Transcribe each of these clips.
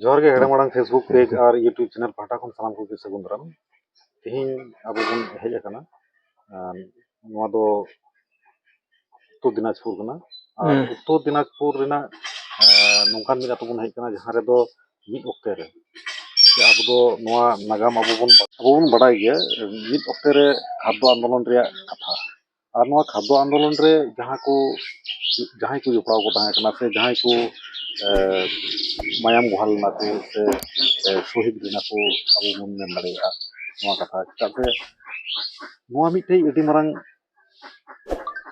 ᱡᱚᱦᱟᱨ ᱜᱮ ᱦᱮᱲᱮᱢ ᱟᱲᱟᱝ ᱯᱷᱮᱥᱵᱩᱠ ᱯᱮᱡᱽ ᱟᱨ ᱤᱭᱩᱴᱩᱵᱽ ᱪᱮᱱᱮᱞ ᱯᱟᱦᱴᱟ ᱠᱷᱚᱱ ᱥᱟᱱᱟᱢ ᱠᱚᱜᱮ ᱥᱟᱹᱜᱩᱱ ᱫᱟᱨᱟᱢ ᱛᱮᱦᱮᱧ ᱟᱵᱚ ᱵᱚᱱ ᱦᱮᱡ ᱟᱠᱟᱱᱟ ᱟᱨ ᱱᱚᱣᱟ ᱫᱚ ᱩᱛᱛᱚᱨ ᱫᱤᱱᱟᱡᱽᱯᱩᱨ ᱠᱟᱱᱟ ᱟᱨ ᱦᱮᱸ ᱩᱛᱛᱚᱨ ᱫᱤᱱᱟᱡᱽᱯᱩᱨ ᱨᱮᱱᱟᱜ ᱟᱨ ᱱᱚᱝᱠᱟᱱ ᱢᱤᱫ ᱟᱛᱳ ᱵᱚᱱ ᱦᱮᱡ ᱟᱠᱟᱱᱟ ᱡᱟᱦᱟᱸ ᱨᱮᱫᱚ ᱢᱤᱫ ᱚᱠᱛᱮ ᱨᱮ ᱡᱮ ᱟᱵᱚ ᱫᱚ ᱱᱚᱣᱟ ᱱᱟᱜᱟᱢ ᱟᱵᱚ ᱵᱚᱱ ᱟᱵᱚ ᱵᱚᱱ ᱵᱟᱰᱟᱭ ᱜᱮᱭᱟ ᱢᱤᱫ ᱚᱠᱛᱮ ᱨᱮ ᱠᱷᱟᱫᱽᱫᱚ ᱟᱱᱫᱳᱞᱚᱱ ᱨᱮᱭᱟᱜ ᱠᱟᱛᱷᱟ ᱟᱨ ᱱᱚᱣᱟ ᱠᱷᱟᱫᱽᱫᱚ ᱟᱱᱫᱳᱞᱚᱱ ᱨᱮ ᱡᱟᱦᱟᱸ ᱠᱚ ᱡᱟᱦᱟᱸᱭ ᱠᱚ ᱡᱚᱯᱲᱟᱣ ᱠᱚ ᱛᱟᱦᱮᱸ ᱠᱟᱱᱟ ᱥᱮ ᱡᱟᱦᱟᱸᱭ ᱠᱚ ᱢᱟᱭᱟᱢ ᱵᱚᱦᱟᱞ ᱞᱮᱱᱟ ᱠᱚ ᱥᱮ ᱥᱚᱦᱤᱫ ᱞᱮᱱᱟ ᱠᱚ ᱟᱵᱚ ᱵᱚᱱ ᱢᱮᱱ ᱫᱟᱲᱮᱭᱟᱜᱼᱟ ᱱᱚᱣᱟ ᱠᱟᱛᱷᱟ ᱪᱮᱫᱟᱜ ᱥᱮ ᱱᱚᱣᱟ ᱢᱤᱫᱴᱮᱡ ᱟᱹᱰᱤ ᱢᱟᱨᱟᱝ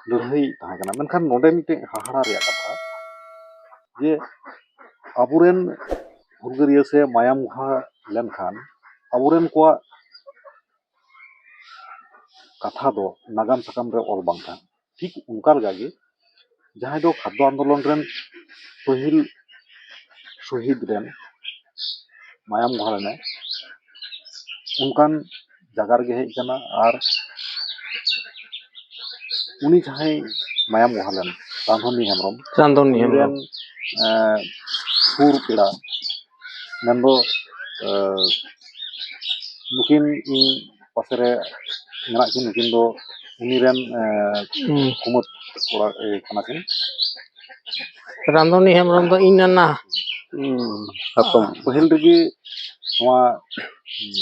ᱞᱟᱹᱲᱦᱟᱹᱭ ᱛᱟᱦᱮᱸ ᱠᱟᱱᱟ ᱢᱮᱱᱠᱷᱟᱱ ᱱᱚᱰᱮ ᱢᱤᱫᱴᱮᱡ ᱦᱟᱦᱟᱲᱟ ᱨᱮᱭᱟᱜ ᱠᱟᱛᱷᱟ ᱡᱮ ᱟᱵᱚ ᱨᱮᱱ ᱦᱩᱞᱜᱟᱹᱨᱭᱟᱹ ᱥᱮ ᱢᱟᱭᱟᱢ ᱵᱚᱦᱟᱞ ᱞᱮᱱᱠᱷᱟᱱ ᱟᱵᱚ ᱨᱮᱱ ᱠᱚᱣᱟᱜ ᱠᱟᱛᱷᱟ ᱫᱚ ᱱᱟᱜᱟᱢ ᱥᱟᱠᱟᱢ ᱨᱮ ᱚᱞ ᱵᱟᱝ ᱛᱟᱦᱮᱱᱟ ᱴᱷᱤᱠ ᱚᱱᱠᱟ ᱞᱮᱠᱟ ᱜᱮ ᱡᱟᱦᱟᱸᱭ ᱫᱚ ᱠᱷᱟᱫᱽᱫᱚ ᱟᱱᱫᱳᱞᱚᱱ ᱨᱮᱱ ᱯᱟᱹᱦᱤᱞ ᱥᱚᱦᱤᱫ ᱨᱮᱱ ᱢᱟᱭᱟᱢ ᱜᱷᱚᱲ ᱮᱱᱟᱭ ᱚᱱᱠᱟᱱ ᱡᱟᱭᱜᱟ ᱨᱮᱜᱮ ᱦᱮᱡ ᱠᱟᱱᱟ ᱟᱨ ᱩᱱᱤ ᱡᱟᱦᱟᱸᱭ ᱢᱟᱭᱟᱢ ᱜᱷᱚᱲ ᱞᱮᱱ ᱨᱟᱢᱫᱷᱚᱱᱤ ᱦᱮᱢᱵᱨᱚᱢ ᱨᱟᱢᱫᱷᱚᱱᱤ ᱦᱮᱢᱵᱨᱚᱢ ᱥᱩᱨ ᱯᱮᱲᱟ ᱢᱮᱱ ᱫᱚ ᱱᱩᱠᱤᱱ ᱤᱧ ᱯᱟᱥᱮ ᱨᱮ ᱢᱮᱱᱟᱜ ᱠᱤᱱ ᱱᱩᱠᱤᱱ ᱫᱚ ᱩᱱᱤ ᱨᱮᱱ ᱠᱩᱢᱟᱹᱛ ᱠᱚᱲᱟ ᱠᱟᱱᱟ ᱠᱤᱱ ᱨᱟᱢᱫᱚᱱᱤ ᱦᱮᱢᱵᱨᱚᱢ ᱫᱚ ᱤᱧ ᱱᱟᱱᱟ ᱦᱟᱛᱚᱢ ᱯᱟᱹᱦᱤᱞ ᱨᱮᱜᱮ ᱱᱚᱣᱟ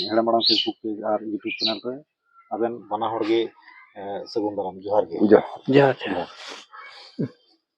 ᱦᱮᱲᱮᱢ ᱟᱲᱟᱝ ᱯᱷᱮᱥᱵᱩᱠ ᱯᱮᱡᱽ ᱟᱨ ᱤᱭᱩᱴᱩᱵᱽ ᱪᱮᱱᱮᱞ ᱨᱮ ᱟᱵᱮᱱ ᱵᱟᱱᱟ ᱦᱚᱲ ᱜᱮ ᱥᱟᱹᱜᱩᱱ ᱫᱟᱨᱟᱢ ᱡᱚᱦᱟᱨ ᱜᱮ ᱡᱚᱦᱟᱨ ᱡᱚᱦᱟᱨ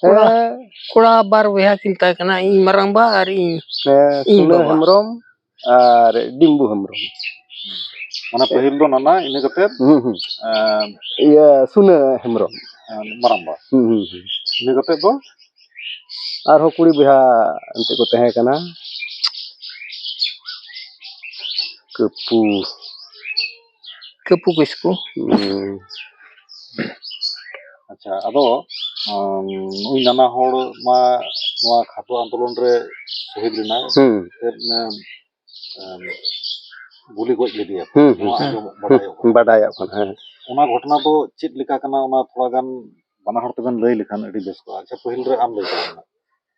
ᱠᱚᱲᱟ ᱦᱮᱸ ᱠᱚᱲᱟ ᱵᱟᱨ ᱵᱚᱭᱦᱟ ᱠᱤᱱ ᱛᱟᱦᱮᱸ ᱠᱟᱱᱟ ᱤᱧ ᱢᱟᱨᱟᱝᱵᱟ ᱟᱨ ᱤᱧ ᱦᱮᱸ ᱤᱧ ᱥᱩᱞᱟᱹ ᱵᱟᱵᱟ᱾ ᱦᱮᱢᱵᱨᱚᱢ ᱟᱨ ᱰᱤᱢᱵᱩ ᱦᱮᱢᱵᱨᱚᱢ ᱢᱟᱱᱮ ᱯᱟᱹᱦᱤᱞ ᱫᱚ ᱱᱟᱱᱟ ᱤᱱᱟᱹ ᱠᱟᱛᱮᱫ ᱦᱩᱸ ᱦᱩᱸ ᱮᱸ, ᱤᱭᱟᱹ ᱥᱩᱱᱟᱹ ᱦᱮᱢᱵᱨᱚᱢ ᱢᱟᱨᱟᱝᱵᱟ ᱦᱩᱸ ᱦᱩᱸ ᱦᱩᱸ ᱤᱱᱟᱹ ᱠᱟᱛᱮᱫ ᱫᱚ ᱟᱨᱦᱚᱸ ᱠᱩᱲᱤ ᱵᱚᱭᱦᱟ ᱮᱱᱛᱮ ᱠᱚ ᱛᱟᱦᱮᱸ ᱠᱟᱱᱟ ᱠᱟᱹᱯᱩ ᱠᱟᱹᱯᱩ ᱠᱤᱥᱠᱩ ᱟᱪᱪᱷᱟ ᱟᱫᱚ ᱱᱩᱭ ᱱᱟᱱᱟ ᱦᱚᱲ ᱢᱟ ᱱᱚᱣᱟ ᱠᱷᱟᱴᱚ ᱟᱱᱫᱳᱞᱚᱱ ᱨᱮ ᱥᱚᱦᱤᱫ ᱞᱮᱱᱟᱭ ᱜᱩᱞᱤ ᱜᱚᱡ ᱞᱮᱫᱮᱭᱟ ᱵᱟᱰᱟᱭᱚᱜ ᱠᱟᱱᱟ ᱦᱮᱸ ᱚᱱᱟ ᱜᱷᱚᱴᱚᱱᱟ ᱫᱚ ᱪᱮᱫ ᱞᱮᱠᱟ ᱠᱟᱱᱟ ᱚᱱᱟ ᱛᱷᱚᱲᱟ ᱜᱟᱱ ᱵᱟᱱᱟ ᱦᱚᱲ ᱛᱮᱵᱮᱱ ᱞᱟᱹᱭ ᱞᱮᱠᱷᱟᱱ ᱟᱹᱰᱤ ᱵᱮᱥ ᱠᱚᱜᱼᱟ ᱟᱪᱪᱷᱟ ᱯᱟᱹᱦᱤᱞ ᱨᱮ ᱟᱢ ᱞᱟᱹᱭ ᱛᱟᱞᱟᱝ ᱢᱮ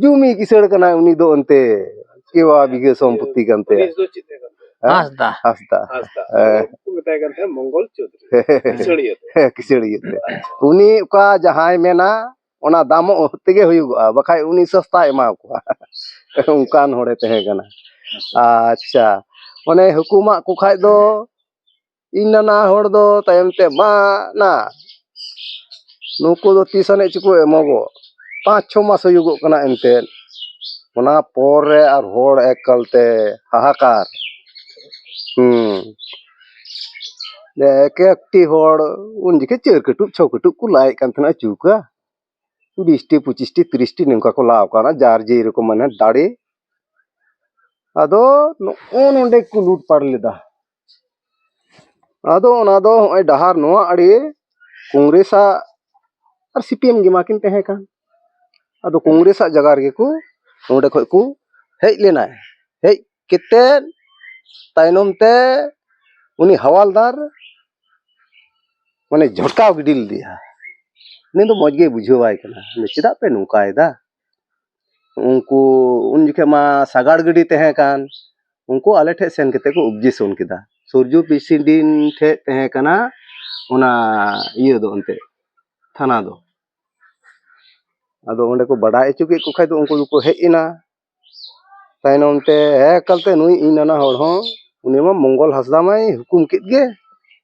ᱡᱩᱢᱤ ᱠᱤᱥᱟᱹᱲ ᱠᱟᱱᱟᱭ ᱩᱱᱤ ᱫᱚ ᱚᱱᱛᱮ ᱠᱮᱣᱟ ᱵᱤᱜᱷᱟᱹ ᱥᱚᱢᱯᱚᱛᱛᱤ ᱠᱟᱱ ᱛᱟᱭᱟ ᱩᱱᱤ ᱫᱚ ᱪᱮᱫ ᱛᱟᱦᱮᱸ ᱠᱟᱱ ᱛᱟᱭᱟ? ᱦᱮᱸ? ᱦᱟᱸᱥᱫᱟ ᱦᱟᱸᱥᱫᱟ ᱦᱟᱸᱥᱫᱟ ᱦᱮᱸ᱾ ᱩᱱᱠᱩ ᱠᱚ ᱢᱮᱛᱟᱭ ᱠᱟᱱ ᱛᱟᱦᱮᱸᱫ ᱢᱚᱝᱜᱚᱞ ᱪᱳᱫᱷᱩᱨᱤ ᱠᱤᱥᱟᱹᱲᱤᱭᱟᱹ ᱫᱚ ᱦᱮᱸ, ᱠᱤᱥᱟᱹᱲᱤᱭᱟᱹ ᱛᱮ ᱩᱱᱤ ᱚᱠᱟ ᱡᱟᱦᱟᱸᱭ ᱢᱮᱱᱟ ᱚᱱᱟ ᱫᱟᱢᱚᱜ ᱛᱮᱜᱮ ᱦᱩᱭᱩᱜᱚᱜᱼᱟ ᱵᱟᱠᱷᱟᱡ ᱩᱱᱤ ᱥᱚᱥᱛᱟᱭ ᱮᱢᱟ ᱠᱚᱣᱟ ᱚᱱᱠᱟᱱ ᱦᱚᱲᱮ ᱛᱟᱦᱮᱸ ᱠᱟᱱᱟ ᱟᱪᱪᱷᱟ ᱚᱱᱮ ᱦᱩᱠᱩᱢᱟᱜ ᱠᱚ ᱠᱷᱟᱡ ᱫᱚ ᱤᱧ ᱱᱟᱱᱟ ᱦᱚᱲ ᱫᱚ ᱛᱟᱭᱚᱢ ᱛᱮ ᱢᱟ ᱱᱟ ᱱᱩᱠᱩ ᱫᱚ ᱛᱤᱥ ᱟᱹᱱᱤᱡ ᱪᱚᱠᱚ ᱮᱢᱚᱜᱚᱜ ᱯᱟᱸᱪ ᱪᱷᱚ ᱢᱟᱥ ᱦᱩᱭᱩᱜᱚᱜ ᱠᱟᱱᱟ ᱮᱱᱛᱮᱫ ᱚᱱᱟ ᱯᱚᱨ ᱨᱮ ᱟᱨ ᱦᱚᱲ ᱮᱠᱟᱞ ᱛᱮ ᱦᱟᱦᱟᱠᱟᱨ ᱦᱮᱸ ᱮᱠ ᱮᱠᱴᱤ ᱦᱚᱲ ᱩᱱ ᱡᱚᱠᱷᱮᱡ ᱪᱟᱹᱨ ᱠᱟᱹᱴᱩᱵ ᱪᱷᱚ ᱠᱟᱹᱴᱩᱵ ᱠᱚ ᱞᱟᱭᱮᱫ ᱠᱟᱱ ᱛᱟᱦᱮᱱᱟ ᱪᱩᱣᱠᱟ ᱵᱤᱥᱴᱤ ᱯᱚᱸᱪᱤᱥᱴᱤ ᱛᱤᱨᱤᱥᱴᱤ ᱱᱚᱝᱠᱟ ᱠᱚ ᱞᱟᱣ ᱠᱟᱱᱟ ᱡᱟᱨ ᱡᱮ ᱨᱚᱠᱚᱢ ᱢᱟᱱᱮ ᱫᱟᱲᱮ ᱟᱫᱚ ᱱᱚᱜᱼᱚ ᱱᱚᱰᱮ ᱠᱚ ᱞᱩᱴᱯᱟᱴ ᱞᱮᱫᱟ ᱟᱫᱚ ᱚᱱᱟ ᱫᱚ ᱱᱚᱜᱼᱚᱭ ᱰᱟᱦᱟᱨ ᱱᱚᱣᱟ ᱟᱲᱮ ᱠᱚᱝᱜᱽᱨᱮᱥ ᱟᱜ ᱟᱨ ᱥᱤ ᱯᱤ ᱮᱢ ᱜᱮ ᱢᱟᱠᱤᱱ ᱛᱟᱦᱮᱸ ᱠᱟᱱ ᱟᱫᱚ ᱠᱚᱝᱜᱽᱨᱮᱥ ᱟᱜ ᱡᱟᱭᱜᱟ ᱨᱮᱜᱮ ᱠᱚ ᱚᱸᱰᱮ ᱠᱷᱚᱱ ᱠᱚ ᱦᱮᱡ ᱞᱮᱱᱟ ᱦᱮᱡ ᱠᱟᱛᱮ ᱛᱟᱭᱱᱚᱢ ᱛᱮ ᱩᱱᱤ ᱦᱟᱣᱟᱞᱫᱟᱨ ᱢᱟᱱᱮ ᱡᱷᱚᱴᱠᱟᱣ ᱜᱤᱰᱤ ᱞᱮᱫᱮᱭᱟ ᱩᱱᱤ ᱫᱚ ᱢᱚᱡᱽ ᱜᱮ ᱵᱩᱡᱷᱟᱹᱣᱟᱭ ᱠᱟᱱᱟ ᱪᱮᱫᱟᱜ ᱯᱮ ᱱᱚᱝᱠᱟᱭᱮᱫᱟ ᱩᱱᱠᱩ ᱩᱱ ᱡᱚᱠᱷᱚᱱ ᱢᱟ ᱥᱟᱜᱟᱲ ᱜᱟᱹᱰᱤ ᱛᱟᱦᱮᱸ ᱠᱟᱱ ᱩᱱᱠᱩ ᱟᱞᱮ ᱴᱷᱮᱱ ᱥᱮᱱ ᱠᱟᱛᱮᱫ ᱠᱚ ᱚᱵᱽᱡᱮᱠᱥᱚᱱ ᱠᱮᱫᱟ ᱥᱩᱨᱡᱚ ᱯᱨᱮᱥᱤᱰᱮᱱᱴ ᱴᱷᱮᱱ ᱛᱟᱦᱮᱸ ᱠᱟᱱᱟ ᱚᱱᱟ ᱤᱭᱟᱹ ᱫᱚ ᱮᱱᱛᱮᱫ ᱛᱷᱟᱱᱟ ᱫᱚ ᱟᱫᱚ ᱚᱸᱰᱮ ᱠᱚ ᱵᱟᱰᱟᱭ ᱦᱚᱪᱚ ᱠᱮᱫ ᱠᱚ ᱠᱷᱟᱱ ᱫᱚ ᱩᱱᱠᱩ ᱫᱚᱠᱚ ᱦᱮᱡ ᱮᱱᱟ ᱛᱟᱭᱱᱚᱢ ᱛᱮ ᱦᱮᱡ ᱠᱟᱛᱮᱫ ᱱᱩᱭ ᱤᱧ ᱱᱟᱱᱟ ᱦᱚᱲ ᱦᱚᱸ ᱩᱱᱤ ᱢᱟ ᱢᱚᱝᱜᱚᱞ ᱦᱟᱸᱥᱫᱟ ᱢᱟᱭ ᱦᱩᱠᱩᱢ ᱠᱮᱫ ᱜᱮ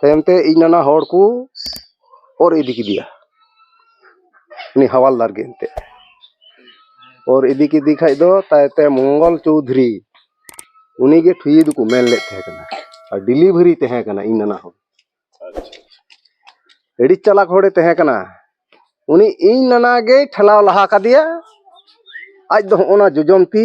ᱛᱟᱭᱚᱢ ᱛᱮ ᱤᱧ ᱱᱟᱱᱟ ᱦᱚᱲ ᱠᱚ ᱚᱨ ᱤᱫᱤ ᱠᱮᱫᱮᱭᱟ ᱩᱱᱤ ᱦᱟᱣᱟᱞᱫᱟᱨ ᱜᱮ ᱮᱱᱛᱮᱫ ᱚᱨ ᱤᱫᱤ ᱠᱮᱫᱮ ᱠᱷᱟᱱ ᱫᱚ ᱛᱟᱭᱚᱢ ᱛᱮ ᱢᱚᱝᱜᱚᱞ ᱪᱳᱣᱫᱷᱩᱨᱤ ᱩᱱᱤ ᱜᱮ ᱴᱷᱩᱭᱟᱹ ᱫᱚᱠᱚ ᱢᱮᱱ ᱞᱮᱫ ᱛᱟᱦᱮᱸ ᱠᱟᱱᱟ ᱟᱨ ᱰᱮᱞᱤᱵᱷᱟᱨᱤ ᱛᱟᱦᱮᱸ ᱠᱟᱱᱟ ᱤᱧ ᱱᱟᱱᱟ ᱦᱚᱲ ᱟᱹᱰᱤ ᱪᱟᱞᱟᱠ ᱦᱚᱲᱮ ᱛᱟᱦᱮᱸ ᱠᱟᱱᱟ ᱩᱱᱤ ᱤᱧ ᱱᱟᱱᱟ ᱜᱮᱭ ᱴᱷᱮᱞᱟᱣ ᱞᱟᱦᱟ ᱠᱟᱫᱮᱭᱟ ᱟᱡ ᱫᱚ ᱦᱚᱸᱜᱼᱚ ᱱᱟ ᱡᱚᱡᱚᱢ ᱛᱤ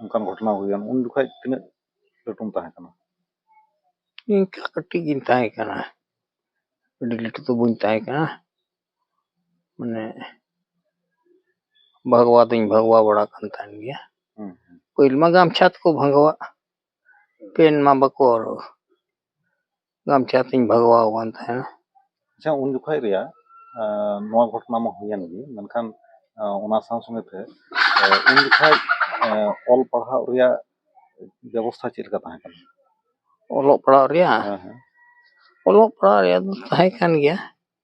ᱚᱱᱠᱟᱱ ᱜᱷᱚᱴᱚᱱᱟ ᱦᱩᱭᱮᱱ ᱩᱱ ᱡᱚᱠᱷᱚᱡ ᱛᱤᱱᱟᱹᱜ ᱞᱟᱹᱴᱩᱢ ᱛᱟᱦᱮᱸ ᱠᱟᱱᱟ ᱤᱱᱠᱟᱹ ᱠᱟᱹᱴᱤᱡ ᱜᱤᱧ ᱛᱟᱦᱮᱸ ᱠᱟᱱᱟ ᱟᱹᱰᱤ ᱞᱟᱹᱴᱩ ᱫᱚ ᱵᱟᱹᱧ ᱛᱟᱦᱮᱸ ᱠᱟᱱᱟ ᱢᱟᱱᱮ ᱵᱷᱟᱜᱽᱣᱟ ᱫᱚᱧ ᱵᱷᱟᱜᱽᱣᱟ ᱵᱟᱲᱟ ᱠᱟᱱ ᱛᱟᱦᱮᱱ ᱜᱮᱭᱟ ᱯᱟᱹᱦᱤᱞ ᱢᱟ ᱜᱟᱢᱪᱷᱟ ᱛᱮᱠᱚ ᱵᱷᱟᱜᱟᱣᱟ ᱯᱮᱱ ᱢᱟ ᱵᱟᱠᱚ ᱦᱚᱨᱚᱜᱟ ᱟᱢ ᱴᱷᱮᱱ ᱛᱤᱧ ᱵᱟᱜᱟᱣ ᱟᱠᱟᱱ ᱛᱟᱦᱮᱱᱟ ᱟᱪᱪᱷᱟ ᱩᱱ ᱡᱚᱠᱷᱚᱱ ᱨᱮᱭᱟᱜ ᱱᱚᱣᱟ ᱜᱷᱚᱴᱚᱱᱟ ᱢᱟ ᱦᱩᱭᱮᱱ ᱜᱮ ᱢᱮᱱᱠᱷᱟᱱ ᱚᱱᱟ ᱥᱟᱶ ᱥᱚᱸᱜᱮ ᱛᱮ ᱩᱱ ᱡᱚᱠᱷᱚᱱ ᱚᱞ ᱯᱟᱲᱦᱟᱣ ᱨᱮᱭᱟᱜ ᱵᱮᱵᱚᱥᱛᱷᱟ ᱪᱮᱫ ᱞᱮᱠᱟ ᱛᱟᱦᱮᱸ ᱠᱟᱱᱟ ᱚᱞᱚᱜ ᱯᱟᱲᱦᱟᱜ ᱨᱮᱭᱟᱜ ᱦᱮᱸ ᱦᱮᱸ ᱚᱞᱚᱜ ᱯᱟᱲᱦᱟᱜ ᱨᱮᱭᱟᱜ ᱫᱚ ᱛᱟᱦᱮᱸ ᱠᱟᱱ ᱜᱮᱭᱟ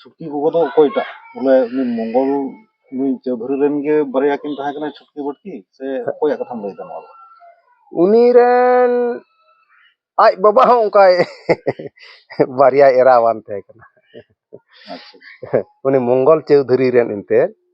ᱪᱷᱩᱴᱠᱤ ᱜᱚᱜᱚ ᱫᱚ ᱚᱠᱚᱭᱴᱟᱜ ᱵᱚᱞᱮ ᱩᱱᱤ ᱢᱚᱝᱜᱚᱞ ᱱᱩᱭ ᱪᱳᱣᱫᱷᱩᱨᱤ ᱨᱮᱱ ᱜᱮ ᱵᱟᱨᱭᱟ ᱠᱤᱱ ᱛᱟᱦᱮᱸ ᱠᱟᱱᱟ ᱪᱷᱩᱴᱠᱤ ᱵᱟᱹᱴᱠᱤ ᱥᱮ ᱚᱠᱚᱭᱟᱜ ᱠᱟᱛᱷᱟᱢ ᱞᱟᱹᱭᱫᱟ ᱱᱚᱣᱟ ᱫᱚ ᱩᱱᱤ ᱨᱮᱱ ᱟᱡ ᱵᱟᱵᱟ ᱦᱚᱸ ᱚᱱᱠᱟᱭ ᱵᱟᱨᱭᱟᱭ ᱮᱨᱟᱣᱟᱱ ᱛᱟᱦᱮᱸ ᱠᱟᱱᱟ ᱟᱪᱪᱷᱟ ᱩᱱᱤ ᱢᱚᱝᱜᱚᱞ ᱪᱳᱣᱫᱷᱩᱨᱤ ᱨᱮᱱ ᱮᱱᱛᱮᱫ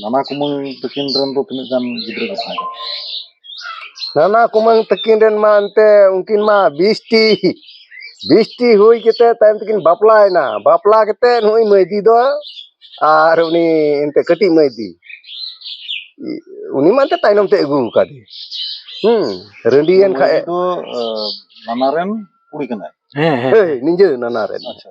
ᱱᱟᱱᱟ ᱠᱩᱢᱟᱹᱝ ᱛᱟᱹᱠᱤᱱ ᱨᱮᱱ ᱫᱚ ᱛᱤᱱᱟᱹᱜ ᱜᱟᱱ ᱜᱤᱫᱽᱨᱟᱹ ᱠᱚ ᱛᱟᱦᱮᱸ ᱠᱟᱱᱟ ᱱᱟᱱᱟ ᱠᱩᱢᱟᱹᱝ ᱛᱟᱹᱠᱤᱱ ᱨᱮᱱ ᱢᱟ ᱮᱱᱛᱮ ᱩᱱᱠᱤᱱ ᱢᱟ ᱵᱤᱥᱴᱤ ᱵᱤᱥᱴᱤ ᱦᱩᱭ ᱠᱟᱛᱮ ᱛᱟᱭᱚᱢ ᱛᱮᱠᱤᱱ ᱵᱟᱯᱞᱟᱭᱮᱱᱟ ᱵᱟᱯᱞᱟ ᱠᱟᱛᱮ ᱱᱩᱭ ᱢᱟᱹᱭᱫᱤ ᱫᱚ ᱟᱨ ᱩᱱᱤ ᱮᱱᱛᱮ ᱠᱟᱹᱴᱤᱡ ᱢᱟᱹᱭᱫᱤ ᱩᱱᱤ ᱢᱟ ᱮᱱᱛᱮ ᱛᱟᱭᱱᱚᱢ ᱛᱮ ᱟᱹᱜᱩ ᱟᱠᱟᱫᱮ ᱦᱩᱸ ᱨᱟᱺᱰᱤᱭᱮᱱ ᱠᱷᱟᱡ ᱢᱟᱹᱭᱫᱤ ᱫᱚ ᱟᱸ, ᱱᱟᱱᱟ ᱨᱮᱱ ᱠᱩᱲᱤ ᱠᱟᱱᱟᱭ ᱦᱮᱸ ᱦᱮᱸ ᱦᱮᱸ ᱱᱤᱡᱮ ᱱᱟᱱᱟ ᱨᱮᱱ ᱟᱪᱪᱷᱟ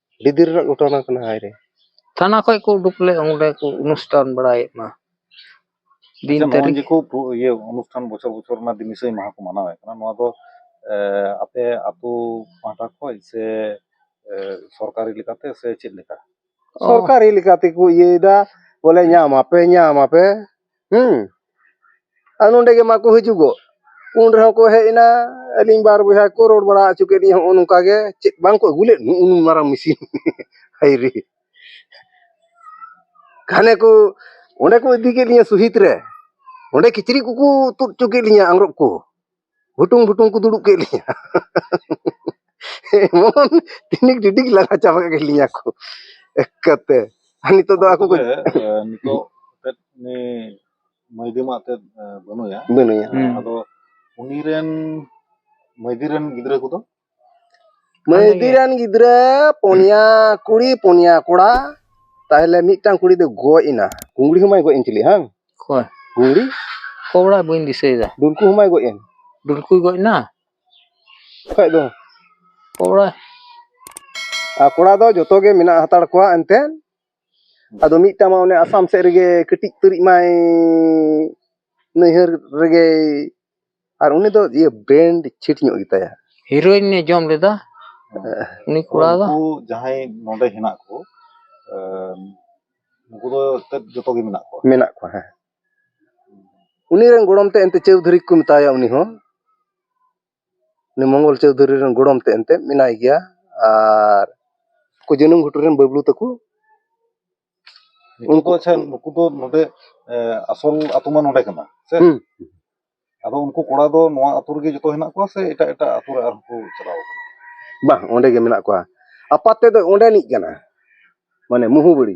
ᱟᱹᱰᱤ ᱫᱤᱱ ᱨᱮᱱᱟᱜ ᱜᱷᱚᱴᱚᱱᱟ ᱠᱟᱱᱟ ᱦᱟᱭ ᱨᱮ ᱛᱷᱟᱱᱟ ᱠᱷᱚᱡ ᱠᱚ ᱩᱰᱩᱠ ᱞᱮ ᱚᱸᱰᱮ ᱠᱚ ᱚᱱᱩᱥᱴᱷᱟᱱ ᱵᱟᱲᱟᱭᱮᱫ ᱢᱟ ᱫᱤᱱ ᱟᱪᱪᱷᱟ ᱱᱚᱜᱼᱚᱭ ᱛᱟᱹᱨᱤᱠᱷ ᱡᱮ ᱠᱚ ᱯᱩ- ᱤᱭᱟᱹ ᱚᱱᱩᱥᱴᱷᱟᱱ ᱵᱚᱪᱷᱚᱨ ᱵᱚᱪᱷᱚᱨ ᱨᱮᱱᱟᱜ ᱫᱤᱱᱤᱥᱟᱹᱭ ᱢᱟᱦᱟ ᱠᱚ ᱢᱟᱱᱟᱣᱮᱫ ᱠᱟᱱᱟ ᱱᱚᱣᱟ ᱫᱚ ᱮᱸ, ᱟᱯᱮ ᱟᱛᱳ ᱯᱟᱦᱴᱟ ᱠᱷᱚᱡ ᱥᱮ ᱮᱸ, ᱥᱚᱨᱠᱟᱨᱤ ᱞᱮᱠᱟᱛᱮ ᱥᱮ ᱪᱮᱫ ᱞᱮᱠᱟ ᱚ, ᱥᱚᱨᱠᱟᱨᱤ ᱞᱮᱠᱟᱛᱮᱠᱚ ᱤᱭᱟᱹᱭᱮᱫᱟ ᱵᱚᱞᱮ ᱧᱟᱢᱟᱯᱮ ᱧᱟᱢᱟᱯᱮ ᱦᱮᱸ ᱟᱨ ᱱᱚᱰᱮ ᱜᱮ ᱢᱟᱠᱚ ᱦᱤᱡᱩᱜᱚᱜ ᱩᱱ ᱨᱮᱦᱚᱸ ᱠᱚ ᱦᱮᱡ ᱮᱱᱟ ᱟᱹᱞᱤᱧ ᱵᱟᱨ ᱵᱚᱭᱦᱟ ᱠᱚ ᱨᱚᱲ ᱵᱟᱲᱟ ᱦᱚᱪᱚ ᱠᱮᱫ ᱞᱤᱧ ᱦᱚᱸᱜᱼᱚ ᱱᱚᱝᱠᱟ ᱜᱮ ᱪᱮᱫ ᱵᱟᱝ ᱠᱚ ᱟᱹᱜᱩ ᱞᱮᱫ ᱩᱱ ᱢᱟᱨᱟᱝ ᱢᱮᱥᱤᱱ ᱦᱟᱭ ᱨᱮ ᱜᱷᱟᱱᱮ ᱠᱚ ᱚᱸᱰᱮ ᱠᱚ ᱤᱫᱤ ᱠᱮᱫ ᱞᱤᱧᱟᱹ ᱥᱚᱦᱤᱫ ᱨᱮ ᱚᱸᱰᱮ ᱠᱤᱪᱨᱤᱡ ᱠᱚᱠᱚ ᱛᱩᱫ ᱦᱚᱪᱚ ᱠᱮᱫ ᱞᱤᱧᱟᱹ ᱟᱝᱨᱚᱵ ᱠᱚ ᱵᱷᱩᱴᱩᱝ ᱵᱷᱩᱴᱩᱝ ᱠᱚ ᱫᱩᱲᱩᱵ ᱠᱮᱫ ᱞᱤᱧᱟ ᱮᱢᱚᱱ ᱛᱤᱱᱤᱠ ᱰᱤᱰᱤᱠ ᱞᱟᱜᱟ ᱪᱟᱵᱟ ᱠᱮᱫ ᱞᱤᱧᱟ ᱠᱚ ᱮᱠᱟᱛᱮ ᱟᱨ ᱱᱤᱛᱚᱜ ᱫᱚ ᱟᱠᱚ ᱠᱚ ᱱᱤᱛᱚᱜ ᱛᱮᱫ ᱩᱱᱤ ᱢᱟᱹᱭᱫᱤ ᱢᱟ ᱛᱮᱫ ᱵᱟᱹᱱᱩᱭᱟ ᱵᱟᱹᱱᱩᱭᱟ ᱟᱫᱚ ᱩᱱᱤ ᱨᱮᱱ ᱢᱟᱹᱭᱫᱤ ᱨᱮᱱ ᱜᱤᱫᱽᱨᱟᱹ ᱠᱚᱫᱚ ᱢᱟᱹᱭᱫᱤ ᱨᱮᱱ ᱜᱤᱫᱽᱨᱟᱹ ᱯᱩᱱᱭᱟ ᱠᱩᱲᱤ ᱯᱩᱱᱭᱟ ᱠᱚᱲᱟ ᱛᱟᱦᱞᱮ ᱢᱤᱫᱴᱟᱝ ᱠᱩᱲᱤ ᱫᱚ ᱜᱚᱡ ᱮᱱᱟ ᱠᱩᱝᱲᱤ ᱦᱚᱸ ᱢᱟᱭ ᱜᱚᱡ ᱮᱱ ᱪᱤᱞᱤ ᱦᱟᱝ ᱚᱠᱚᱭ ᱠᱩᱝᱲᱤ ᱠᱚᱲᱟ ᱵᱟᱹᱧ ᱫᱤᱥᱟᱹᱭᱮᱫᱟ ᱰᱩᱞᱠᱩ ᱦᱚᱸ ᱢᱟᱭ ᱜᱚᱡ ᱮᱱ ᱰᱩᱞᱠᱩᱭ ᱜᱚᱡ ᱮᱱᱟ ᱠᱷᱟᱡ ᱫᱚ ᱠᱚᱲᱟ ᱟᱨ ᱠᱚᱲᱟ ᱫᱚ ᱡᱚᱛᱚ ᱜᱮ ᱢᱮᱱᱟᱜ ᱦᱟᱛᱟᱲ ᱠᱚᱣᱟ ᱮᱱᱛᱮᱫ ᱟᱫᱚ ᱢᱤᱫᱴᱟᱝ ᱢᱟ ᱚᱱᱮ ᱟᱥᱟᱢ ᱥᱮᱫ ᱨᱮᱜᱮ ᱠᱟᱹᱴᱤᱡ ᱩᱛᱟᱹᱨᱤᱡ ᱢᱟᱭ ᱱᱟᱹᱭᱦᱟᱹᱨ ᱨᱮᱜᱮ ᱟᱨ ᱩᱱᱤ ᱫᱚ ᱤᱭᱟᱹ ᱵᱮᱱᱰ ᱪᱷᱤᱴ ᱧᱚᱜ ᱜᱮᱛᱟᱭᱟ ᱦᱤᱨᱳᱭᱤᱱ ᱮ ᱡᱚᱢ ᱞᱮᱫᱟ ᱩᱱᱤ ᱠᱚᱲᱟ ᱫᱚ ᱩᱱᱠᱩ ᱡᱟᱦᱟᱸᱭ ᱱᱚᱰᱮ ᱦᱮᱱᱟᱜ ᱠᱚ ᱮᱸ, ᱩᱱᱠᱩ ᱫᱚ ᱮᱱᱛᱮᱫ ᱡᱚᱛᱚ ᱜᱮ ᱢᱮᱱᱟᱜ ᱠᱚᱣᱟ ᱢᱮᱱᱟᱜ ᱠᱚᱣᱟ ᱦᱮᱸ ᱩᱱᱤ ᱨᱮᱱ ᱜᱚᱲᱚᱢ ᱛᱮ ᱮᱱᱛᱮ ᱪᱟᱹᱣᱫᱷᱩᱨᱤ ᱠᱚ ᱢᱮᱛᱟᱭᱟ ᱩᱱᱤ ᱦᱚᱸ ᱩᱱᱤ ᱢᱚᱝᱜᱚᱞ ᱪᱳᱣᱫᱷᱩᱨᱤ ᱨᱮᱱ ᱜᱚᱲᱚᱢ ᱛᱮᱫ ᱮᱱᱛᱮᱫ ᱢᱮᱱᱟᱭ ᱜᱮᱭᱟ ᱟᱨ ᱩᱱᱠᱩ ᱡᱟᱹᱱᱩᱢ ᱜᱷᱩᱴᱩ ᱨᱮᱱ ᱵᱟᱹᱵᱽᱞᱩ ᱛᱟᱠᱚ ᱩᱱᱠᱩ ᱟᱪᱪᱷᱟ ᱱᱩᱠᱩ ᱫᱚ ᱱᱚᱰᱮ ᱟᱥᱚᱞ ᱟᱛᱳ ᱢᱟ ᱱᱚᱰᱮ ᱠᱟᱱᱟ ᱥᱮ ᱦᱩᱸ ᱟᱫᱚ ᱩᱱᱠᱩ ᱠᱚᱲᱟ ᱫᱚ ᱱᱚᱣᱟ ᱟᱛᱳ ᱨᱮᱜᱮ ᱡᱚᱛᱚ ᱦᱮᱱᱟᱜ ᱠᱚᱣᱟ ᱥᱮ ᱮᱴᱟᱜ ᱮᱴᱟᱜ ᱟᱛᱳ ᱨᱮ ᱟᱨᱦᱚᱸ ᱠᱚ ᱪᱟᱞᱟᱣ ᱠᱟᱱᱟ ᱵᱟᱝ ᱚᱸᱰᱮ ᱜᱮ ᱢᱮᱱᱟᱜ ᱠᱚᱣᱟ ᱟᱯᱟᱛ ᱛᱮᱫ ᱫᱚ ᱚᱸᱰᱮᱱᱤᱡ ᱠᱟᱱᱟ ᱢᱟᱱᱮ ᱢᱩᱦᱩᱵᱟᱹᱲᱤ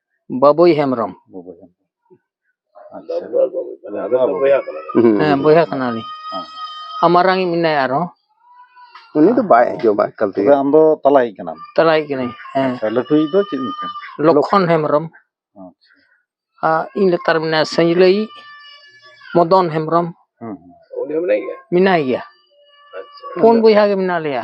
ᱵᱟᱵᱩᱭ ᱦᱮᱢᱵᱨᱚᱢ ᱵᱟᱵᱩᱭ ᱦᱮᱢᱵᱨᱚᱢ ᱦᱮᱸ ᱵᱚᱭᱦᱟ ᱠᱟᱱᱟᱞᱤᱧ ᱟᱨ ᱢᱟᱨᱟᱝ ᱤᱡ ᱢᱮᱱᱟᱭᱟ ᱟᱨᱦᱚᱸ ᱩᱱᱤ ᱫᱚ ᱵᱟᱭ ᱦᱤᱡᱩᱜᱼᱟ ᱮᱠᱟᱞ ᱛᱮᱜᱮ ᱟᱢ ᱫᱚ ᱛᱟᱞᱟᱭᱤᱡ ᱠᱟᱱᱟᱢ ᱛᱟᱞᱟᱭᱤᱡ ᱠᱟᱹᱱᱟᱹᱧ ᱦᱮᱸ ᱞᱟᱹᱴᱩᱭᱤᱡ ᱫᱚ ᱪᱮᱫ ᱧᱩᱛᱩᱢ ᱞᱚᱠᱷᱚᱱ ᱦᱮᱢᱵᱨᱚᱢ ᱟᱨ ᱤᱧ ᱞᱟᱛᱟᱨ ᱢᱮᱱᱟᱭᱟ ᱥᱟᱹᱡᱽᱞᱟᱹᱭ ᱢᱚᱫᱚᱱ ᱦᱮᱢᱵᱨᱚᱢ ᱢᱮᱱᱟᱭ ᱜᱮᱭᱟ ᱯᱩᱱ ᱵᱚᱭᱦᱟ ᱜᱮ ᱢᱮᱱᱟᱜ ᱞᱮᱭᱟ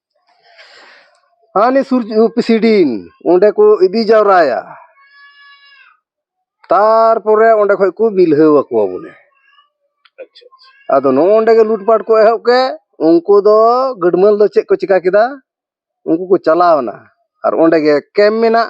ᱦᱟᱱᱤ ᱥᱩᱨ ᱯᱨᱮᱥᱤᱰᱤᱱ ᱚᱸᱰᱮ ᱠᱚ ᱤᱫᱤ ᱡᱟᱣᱨᱟᱭᱟ ᱛᱟᱨᱯᱚᱨᱮ ᱚᱸᱰᱮ ᱠᱷᱚᱡ ᱠᱚ ᱵᱤᱞᱦᱟᱹᱣ ᱟᱠᱚᱣᱟ ᱵᱚᱞᱮ ᱟᱪᱪᱷᱟ ᱟᱫᱚ ᱱᱚᱜᱼᱚᱸᱰᱮ ᱜᱮ ᱞᱩᱴᱯᱟᱴ ᱠᱚ ᱮᱦᱚᱵ ᱠᱮᱫ ᱩᱱᱠᱩ ᱫᱚ ᱜᱟᱹᱰᱢᱟᱹᱞ ᱫᱚ ᱪᱮᱫ ᱠᱚ ᱪᱤᱠᱟ ᱠᱮᱫᱟ ᱩᱱᱠᱩ ᱠᱚ ᱪᱟᱞᱟᱣᱱᱟ ᱟᱨ ᱚᱸᱰᱮ ᱜᱮ ᱠᱮᱢᱯ ᱢᱮᱱᱟᱜ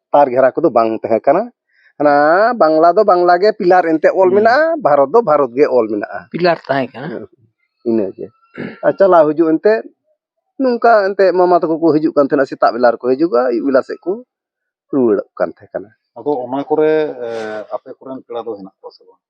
ᱯᱟᱨ ᱜᱷᱮᱨᱟ ᱠᱚᱫᱚ ᱵᱟᱝ ᱛᱟᱦᱮᱸ ᱠᱟᱱᱟ ᱦᱟᱱᱟ ᱵᱟᱝᱞᱟ ᱫᱚ ᱵᱟᱝᱞᱟ ᱜᱮ ᱯᱤᱞᱟᱨ ᱮᱱᱛᱮ ᱚᱞ ᱦᱩᱸ᱾ ᱢᱮᱱᱟᱜᱼᱟ ᱵᱷᱟᱨᱚᱛ ᱫᱚ ᱵᱷᱟᱨᱚᱛ ᱜᱮ ᱚᱞ ᱢᱮᱱᱟᱜᱼᱟ ᱯᱤᱞᱟᱨ ᱛᱟᱦᱮᱸ ᱠᱟᱱᱟ ᱤᱱᱟᱹᱜᱮ ᱟᱨ ᱪᱟᱞᱟᱣ ᱦᱤᱡᱩᱜ ᱮᱱᱛᱮ ᱱᱚᱝᱠᱟ ᱮᱱᱛᱮ ᱢᱟᱢᱟ ᱛᱟᱠᱚ ᱠᱚ ᱦᱤᱡᱩᱜ ᱠᱟᱱ ᱛᱟᱦᱮᱱᱟ ᱥᱮᱛᱟᱜ ᱵᱮᱞᱟ ᱨᱮᱠᱚ ᱦᱤᱡᱩᱜᱼᱟ ᱟᱹᱭᱩᱵ ᱵᱮᱞᱟ ᱥᱮᱫ ᱠᱚ ᱨᱩᱣᱟᱹᱲᱚᱜ ᱠᱟᱱ ᱛᱟᱦᱮᱸ ᱠᱟᱱᱟ ᱟᱫᱚ ᱚᱱᱟ ᱠᱚᱨᱮ ᱮ, ᱟᱯᱮ ᱠᱚᱨᱮᱱ ᱯᱮᱲᱟ ᱫᱚ ᱦᱮᱱᱟᱜ ᱠᱚᱣᱟ ᱥᱮ ᱵᱟᱝ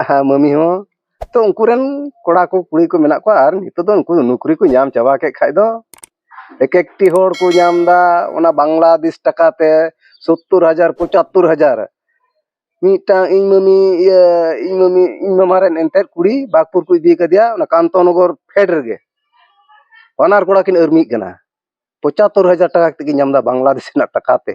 ᱟᱨ ᱢᱟᱹᱢᱤ ᱦᱚᱸ ᱛᱚ ᱩᱱᱠᱩ ᱨᱮᱱ ᱠᱚᱲᱟ ᱠᱚ ᱠᱩᱲᱤ ᱠᱚ ᱢᱮᱱᱟᱜ ᱠᱚᱣᱟ ᱟᱨ ᱱᱤᱛᱚᱜ ᱫᱚ ᱩᱱᱠᱩ ᱫᱚ ᱱᱩᱠᱨᱤ ᱠᱚ ᱧᱟᱢ ᱪᱟᱵᱟ ᱠᱮᱫ ᱠᱷᱟᱱ ᱫᱚ ᱮᱠ ᱮᱠᱴᱤ ᱦᱚᱲ ᱠᱚ ᱧᱟᱢ ᱮᱫᱟ ᱚᱱᱟ ᱵᱟᱝᱞᱟᱫᱮᱥ ᱴᱟᱠᱟ ᱛᱮ ᱥᱳᱛᱛᱳᱨ ᱦᱟᱡᱟᱨ ᱯᱚᱸᱪᱟᱛᱛᱳᱨ ᱦᱟᱡᱟᱨ ᱢᱤᱫᱴᱟᱝ ᱤᱧ ᱢᱟᱹᱢᱤ ᱤᱭᱟᱹ ᱤᱧ ᱢᱟᱹᱢᱤ ᱤᱧ ᱢᱟᱢᱟ ᱨᱮᱱ ᱮᱱᱛᱮᱫ ᱠᱩᱲᱤ ᱵᱟᱜᱽᱯᱩᱨ ᱠᱚ ᱤᱫᱤ ᱠᱟᱫᱮᱭᱟ ᱚᱱᱟ ᱠᱟᱱᱛᱚ ᱱᱚᱜᱚᱨ ᱯᱷᱮᱰ ᱨᱮᱜᱮ ᱵᱟᱱᱟᱨ ᱠᱚᱲᱟ ᱠᱤᱱ ᱟᱹᱨᱢᱤᱜ ᱠᱟᱱᱟ ᱯᱚᱸᱪᱟᱛᱛᱳᱨ ᱦᱟᱡᱟᱨ ᱴᱟᱠᱟ ᱠᱟᱛᱮᱫ ᱠᱤᱱ ᱧᱟᱢ ᱮᱫᱟ ᱵᱟᱝᱞᱟᱫᱮᱥ ᱨᱮᱱᱟᱜ ᱴᱟᱠᱟ ᱛᱮ